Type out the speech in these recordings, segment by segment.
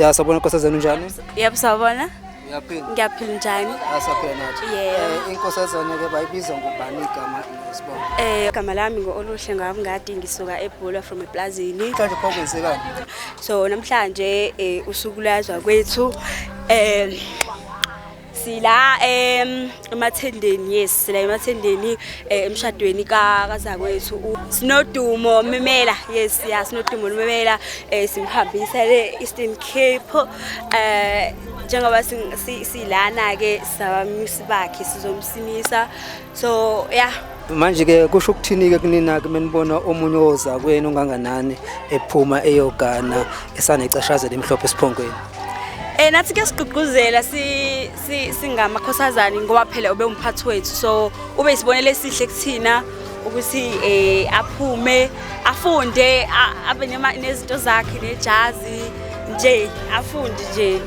Ya sabona Nkosi zenu njani? Yebo sabona. Uyaphila? Ngiyaphila njani? Asaphila nathi. Yebo. Eh, Inkosazana ke bayibiza ngobani igama nesibongo? Eh igama lami ngo-Oluhle Ngabungadi ngisuka eBhula from ePlazini. Mhlawumbe pho kwenzekani? So namhlanje eh usuku lwazwa kwethu eh sila em emathendeni yes sila emathendeni eh, emshadweni ka kazakwethu u- sinodumo memela yes ya sinodumo memela eh, simhambisa le Eastern Cape eh njengoba sing- si- silana ke sabamisi bakhe sizomsimisa so yeah manje ke kusho ukuthini ke kunina ke menibona omunye oza kweni onganganani ephuma eyogana esanecashazela emhlophe esiphongweni Eh nathi ke sigqugquzela si singamakhosazani ngoba phela ube umphathi wethu so ube isibonele esihle kuthina ukuthi eh aphume afunde abe nezinto zakhe nejazi nje afunde nje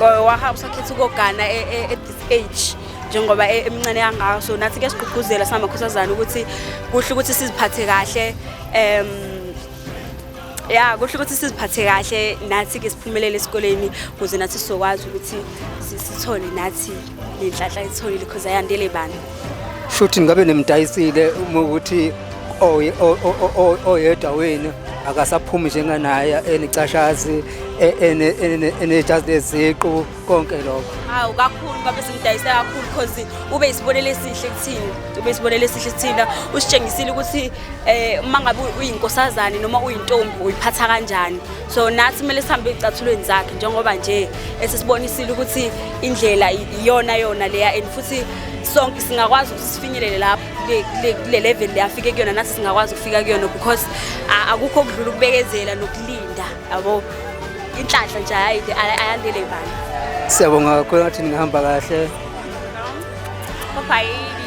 wahamba sakhetha ukogana e, e, at this age njengoba e-, emncane kangaka so nathi ke sigqugquzela singamakhosazana ukuthi kuhle ukuthi siziphathe kahle um ya kuhle ukuthi siziphathe kahle nathi ke siphumelele esikoleni ukuze nathi sizokwazi ukuthi sithole nathi le nhlahla itholile because ayandele bani futhi ngabe nimdayisile uma ukuthi oyedwa wenu akasaphumi njenganaye enicashazi enejazi leziqu konke lokho hawu kakhulu babe simdayise kakhulu because ube isibonelo esihle kuthina ube isibonelo esihle kuthina usitshengisile ukuthi eh uma ngabe uyinkosazane noma uyintombi uyiphatha kanjani so nathi kumele sihambe ezicathulweni zakhe njengoba nje esisibonisile ukuthi indlela iyona yona leya and futhi sonke singakwazi ukuthi sifinyelele lapho kule level leyafike kuyona nathi singakwazi ukufika kuyona because akukho okudlula ukubekezela nokulinda yabo inhlanhla nje ayide ayandele ibani siyabonga kakhulu ngathi ningahamba kahle kopha yini